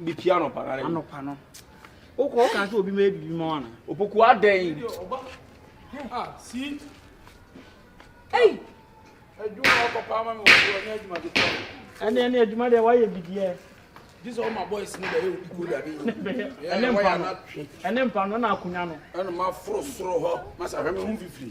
Bepia anɔpa no. Anɔpa no. Wokɔ woka sɛ obi ma yɛ biribi ma wo ana? Opoku adɛn? Ah, si. Ei! Adwuma a wɔkɔ paa ma me wɔ so ɔnyɛ adwuma de paa. Ɛne ɛne adwuma deɛ woayɛ bi deɛ. Gye sɛ ɔma boys no bɛyɛ obi ko da bi. Ɛne mpa no. Ɛne mpa no na akonnwa no. Ɛne ma foro soro hɔ. Masa hwɛ me ho mfifiri.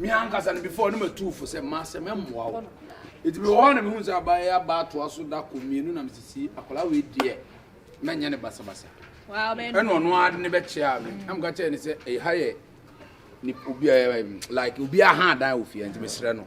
Me ankasa no before no matuu fo sɛ ma sɛ mɛmmoa wo. Eti mewɔ hɔ na mehu sɛ aba yɛ aba atoa so da ko mmienu na mesisi akwadaa wei deɛ mɛnyɛ ne basabasa. Ɛna ɔno ara de ne bɛkyea me. Ɛna meka kyerɛ ne sɛ ɛha yɛ ne obi ɛɛ like obi aha adan wɔ fie nti mesrɛ no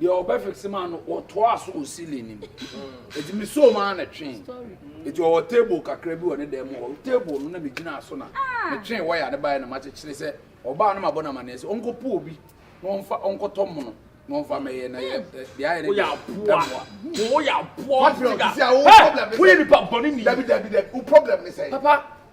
deɛ ɔbɛ fixe maa no ɔtoa so wɔ ceiling no mu eti mi so maa na twe eti ɔwɔ table kakra bi wɔ ne dan mu hɔ table no na mi gyina so na ah. mi twe waya ne baeɛ na ma kyekyere sɛ ɔbaa no ma bɔ na ma nɛɛsɛ ɔnkɔ po obi na ɔnfa ɔnkɔtɔ mono na ɔnfa mɛyɛ na yɛ deɛ ayɛ ne deɛ ɛmoa wɔyɛ aboa wɔn ti ka ɛ wɔyɛ nipa bɔnni ni dabi dabi dabi o problem ne sɛ papa.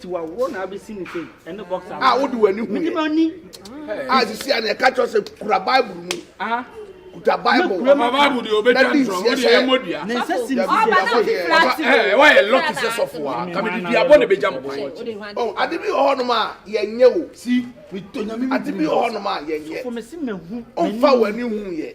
tiwa wo na abɛsi ne sei ɛne boxer a wode w'ani hu yɛ ani a sisi a na ɛka kyerɛ sɛ kura bible mu kuta bible ɔba bible deɛ ɔbɛtwa ntorɔ mo deɛ ɛmɔ dua ne nsa si ne sisi ɛɛ ɛwɔ yɛ lɔki sɛ sɔfo a kamidi dua bɔ na ɛbɛgya mo kwan ɔ ade bi wɔ hɔnom a yɛnyɛ o si ade bi wɔ hɔnom a yɛnyɛ ɔmfa w'ani hu yɛ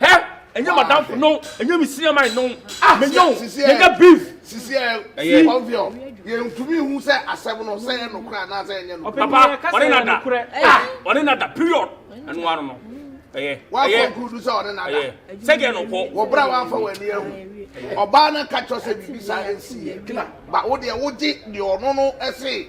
Hɛ, ɛnyɛ madamfo no, ɛnyɛ me senior man no. Ah, menya wo, yɛnyɛ beef. Sisi ɛ, ɛyɛ kɔnfiɔ. Yɛntumi hu sɛ asɛm no sɛ yɛ nokora anaa sɛ yɛnyɛ nokora. Papa, ɔne na da. Ah, ɔne na da, period. Ɛno ara no. Ɛyɛ, ɛyɛ. Wakonkludu sɛ ɔne na da. Sɛ deɛ no kɔ. Wɔbrɛ a wɔafa w'ani ahu. Ɔbaa no ka kyerɛ sɛ biribi saa ɛnsi yɛ. Ba, wo deɛ wogye deɛ ɔno no se.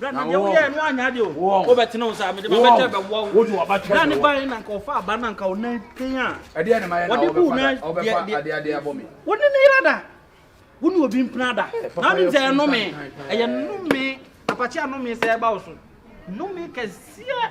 na wo woyɛ no anya de o wo bɛ tena o sa me de ma bɛ tɛ bɛ wo wo de wa ba tɛ na ne ba ye na nka ofa aba na nka o na ken a ɛde ɛna ma ye na o bɛ fa da o bɛ fa ade ade abɔ mi wo ne ne yira da wo ne obi mpena da na ɔnim sɛ ɛnome ɛyɛ nome apakye anome sɛ ɛba wo so nome kɛseɛ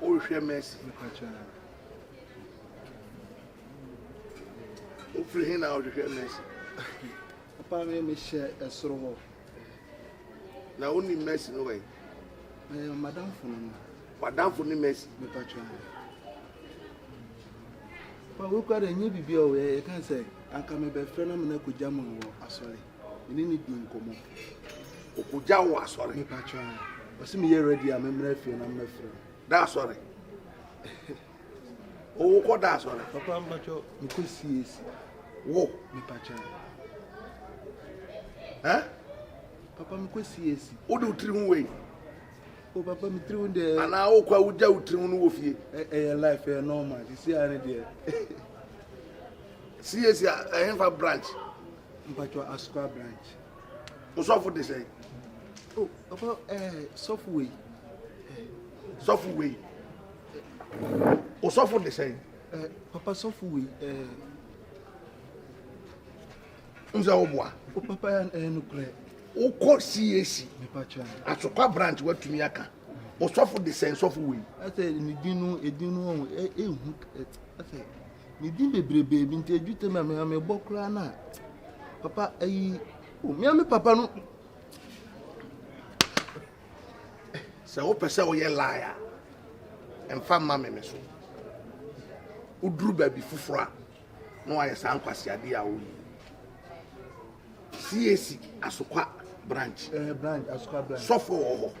Worehwɛ Mercy. Wofiri he na wohwehwɛ Mercy? Papa me mehyɛ ɛsoro hɔ. Na wonim Mercy no wɛn? Ɛɛ madamfo no no. Wadamfo ne Mercy? Mepa kyɛ. Pa wokura dɛ nyɛ biribi a ɔyɛ yɛka sɛ anka mebɛfrɛ na mena kogya mu wɔ asɔre. me ne no di nkɔmmɔ. Ɔkɔgya wo asɔre. Mepa kyɛ a. Ɔsi meyɛ ready a memmra fie na mmɛfrɛ wo. Da asɔre. Wo kɔ da asɔre. Papa mpakyɛ mekɔ CAC. Wo. Mepa kyɛ a. Ɛ? Papa mekɔ CAC. Wo de wo tiri ho wei. O papa me tiri ho deɛ. Anaa wo kɔ a wogya wo tiri ho no wɔ fie. Ɛyɛ life ɛyɛ normal sisi a ne deɛ. CAC a ɛhefa branch. mpatsɔ asukwa branch osɔfo de sɛ. o ɔfɔ ɛɛ eh, sɔfo wei. sɔfo wei osɔfo de sɛ. ɛɛ papa sɔfo wei ɛɛ. Eh. n sɛ o boa. o papa ya ɛɛ nukurɛ. o kɔ cac. mpatsɔ asukwa branch wa tumi aka osɔfo de sɛ sɔfo wei. ɛsɛ ne din no edin no ɛhu ɛsɛ. Ne din bebrebe bi nti adwutam a meha mebɔ koraa no a papa ayi omia me papa no sɛ wopɛ sɛ woyɛ lie a ɛmfa mma me me so woduru baabi foforɔ a na wayɛ saa nkwaseadeɛ a woyi cac asokwa branch eh, sɔfo wɔ hɔ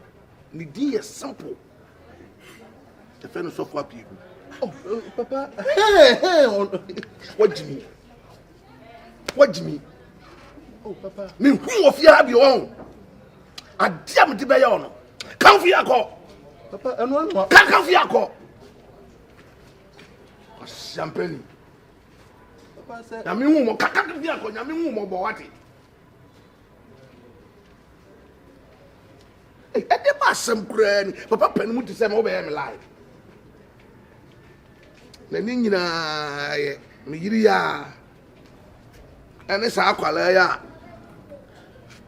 ne din yɛ simple yɛfɛ no sɔfo apii gu oh, oh, papa wagye mi wagye mi oh, mehu wɔ fie ha bi ɔn adeɛ a mede bɛyɛ ɔ no kamfo yi akɔ kamfo yi akɔ ɔsiampani nyame hu mɔ kakaka bi akɔ nyame hu mɔ bɔ wate ɛde ba asɛm koraa ni papa pɛ no mu te sɛ ma wobɛyɛ me live na ne nyinaa yɛ me yiri yɛ a ɛne saa akwadaa yɛ a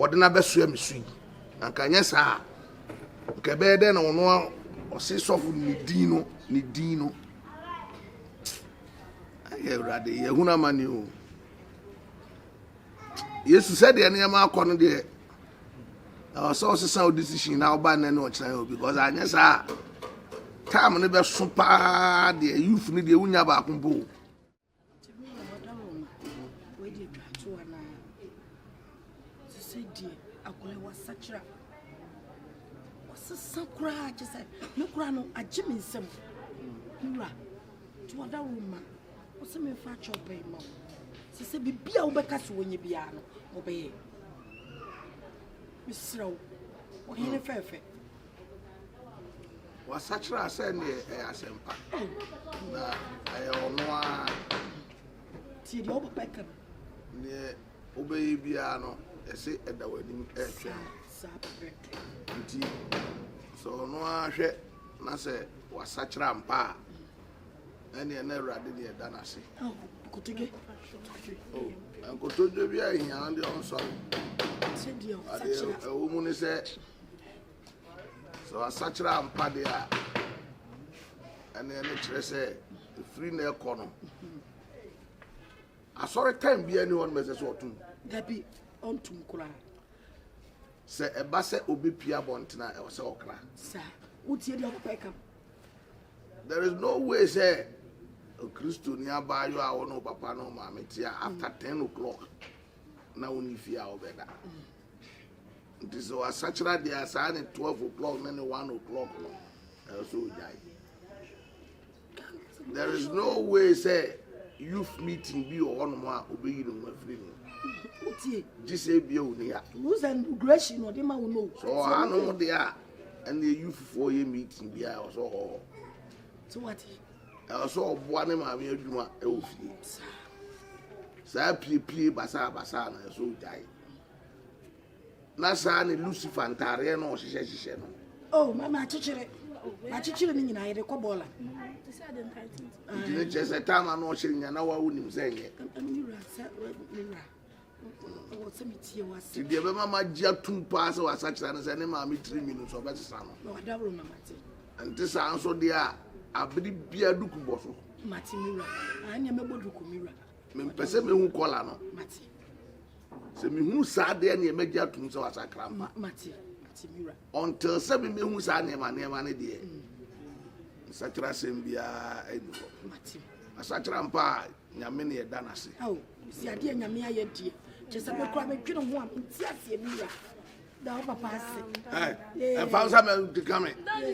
ɔde no abɛsoa me so yi na nka nyɛ saa nka ɛbɛyɛ dɛ na ɔno ɔse sɔfo ne din no ne din no ayɛ awurade yɛhunu amane o Yesu, sɛdeɛ nneɛma akɔ no deɛ, ɛwɔ sɛ ɔsesa wo decision na woba nnɛ ne ɔkyena yɛ obi because anyɛ saa a time no bɛso paa deɛ youth no deɛ wonya baako mpo o. ɔsesa koraa kyɛ sɛ me koraa no agye me nsam wura to ɔda wo ma Ɔse menfa akyɛw pɛn mma wo. Se sɛ biribi a wobɛka se wɔnyɛ biara no, wɔbɛyɛ. Mesrɛ wo, ɔhene fɛɛfɛ. Wasakyera sɛ ne ɛyɛ asɛmpa. Na ɛyɛ ɔno ara. Tie deɛ ɔba bɛka no. Neɛ wobɛyɛ biara no, ɛse ɛda w'anim ɛretwɛn wo. Saa pɛpɛɛpɛ. Nti sɛ ɔno ara hwɛ na sɛ wasakyera mpa a. ɛneɛ na awurade deɛ ɛda no ase nkotodwe bi ahia wo deɛ ɔnsɔre adeɛ ɛwɔ mu ne sɛ sɛ wasakyerɛ ampa deɛ a ɛneɛ ne kyerɛ sɛ ɛfiri na ɛkɔ no asɔre time biara ne hɔ no mɛsɛ sɛ ɔtom dabi ɔntom koraa sɛ ɛba sɛ ɔbɛpia bɔntena ɛwɔ sɛ ɔkra saa wotie deɛ ɔkɔpɛ kam There is no way sɛ Okristoni abaayewa a ɔne ɔpapa ne ɔmaame te a after ten o'clock na ɔnni fie a ɔbɛda. Nti sɛ wasakyera deɛ a saa ne twelve o'clock ne ne one o'clock no ɛwɔ sɛ ɔgyae. There is no way sɛ youth meeting bi wɔ hɔnom a ɔbɛyi ne ho afiri mu. Wotie. Gye sɛ ebia ɔni ha. Rules and regulation na ɔde ma wo no. Sɛ ɔhanom deɛ a ɛne youth foɔ yɛ meeting bi a ɛwɔ sɛ ɔwɔ hɔ so wate ɛwɔ sɛ ɔboa ne maame adwuma ɛwɔ fie saa piepie basaa basaa na ɛsɛ ɔgyae na saa ne lucifer ntaareɛ na ɔhyehyɛ hyehyɛ no oh mama akyekyere akyekyere ne nyinaa yɛde kɔ bɔɔla nti ne kyerɛ sɛ taama na ɔhyɛ nya na wawo nim sɛ nyɛ Nti deɛ ɛbɛma magye atum paa sɛ wasakyera no sɛ ne maame tirinwi no nso ɔbɛsesa no. Ɛnte saa nso deɛ a, abere biara duku bɔ so. Mempɛ sɛ mehu kɔla no. Sɛ mehunu saa deɛ neɛ magye atum sɛ wasakra mpa. Until sɛ memehu saa nneɛma nneɛma no deɛ, mm. nsakyera asɛm biara ɛni hɔ. Asakyera mpa a, nyame ne ɛda no ase. Mese adeɛ nyame ayɛ deɛ kyɛ sɛ mekora medwene ho a menti aseɛ bi ya da wo papa ase ɛmfa nsa mɛdika me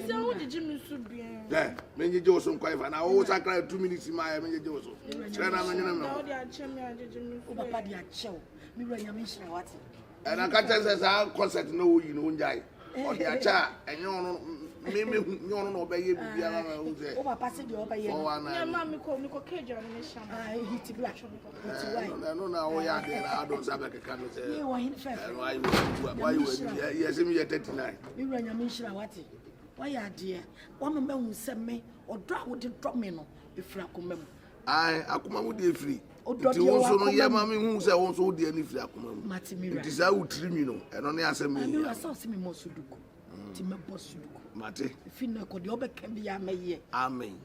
sɛ wogyegye me so biaa menyegye wo so nkwan fa na wowo sakra two minutes ma ɛ menyegye wo so kyerɛ na menwene me ho wo papa de akyɛ wo mewura nyame nhyira wate ɛna ka kyerɛ sɛ saa kɔsɛt na ɔyi no ɔngyae ɔde akyɛ a ɛnyɛ ɔno memehu nyɛ ɔno na ɔbɛyɛ biribiara ma ɛhu sɛ ɛno na woyɛ adeɛ na ado nsa bɛkeka no sɛ yɛsɛ meyɛ 39 mewura nyame nhyira wate wayɛ adeɛ wama mahu sɛ me ɔdɔ a wode dɔ me no ɛfiri akoma mu Ae, akoma mu deɛ firi. Nti wo nso no yɛ ma me hu sɛ wo nso wo deɛ no firi akoma mu. Nti saa wo tiri mi no, ɛno ne asɛm mi hia. Sɛ ɔsɛ me mɔ suduku, mm. nti mɛbɔ suduku. Mate. Fi na ɛkɔ deɛ ɔbɛka bi a mɛyɛ. Amen.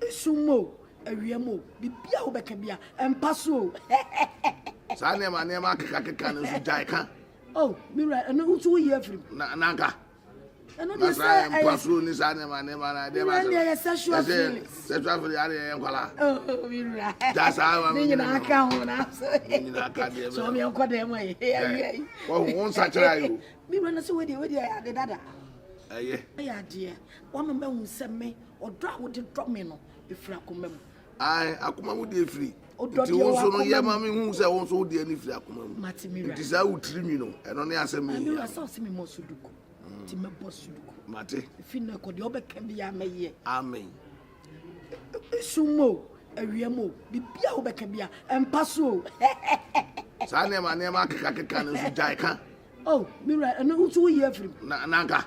Esum o, awia mu o, biribi a wobɛka bi a ɛmpa so o. Saa nneɛma nneɛma akekakeka no nso gyae ka. Oh, mewura ɛno nso woyi afiri mu. Na nanka. Masra yɛ mpoasoro ni saa nneɛma nneɛma na ɛdeɛ baasa yɛ sexual feelings sexual feelings adeɛ yɛ nkwala gya saa ma mi nyina mi ka ho na mi nyina ka deɛ bɛ sɛ ɔmi ɛnkɔ dɛm ma yi ɛyɛ yi wɔn ho nsa kyerɛ ayo mi wura na sɛ wei deɛ wei deɛ ade dada ɛyɛ ɛyɛ adeɛ wɔn mɛ hu sɛ mi ɔdɔ a wɔde dɔ mi no efura kɔn mɛ mu Ae, akoma mu deɛ firi. Nti wo nso no yɛ ma me hu sɛ wo nso wo deɛ no firi akoma mu. Nti saa wo tiri mi no, ɛno ne asɛm mi hia. Sɛ ɔsɛ me mɔ suduku, nti me bɔ suduku. Mate. Fi na kɔ deɛ ɔbɛka bi a mɛyɛ. Amen. Esum o, awia mu o, biribi a wobɛka bi a ɛmpa so o. Saa nneɛma nneɛma akeka keka no nso gyae ka. Oh, me wura, ɛno nso woyi afiri mu. Na nanka.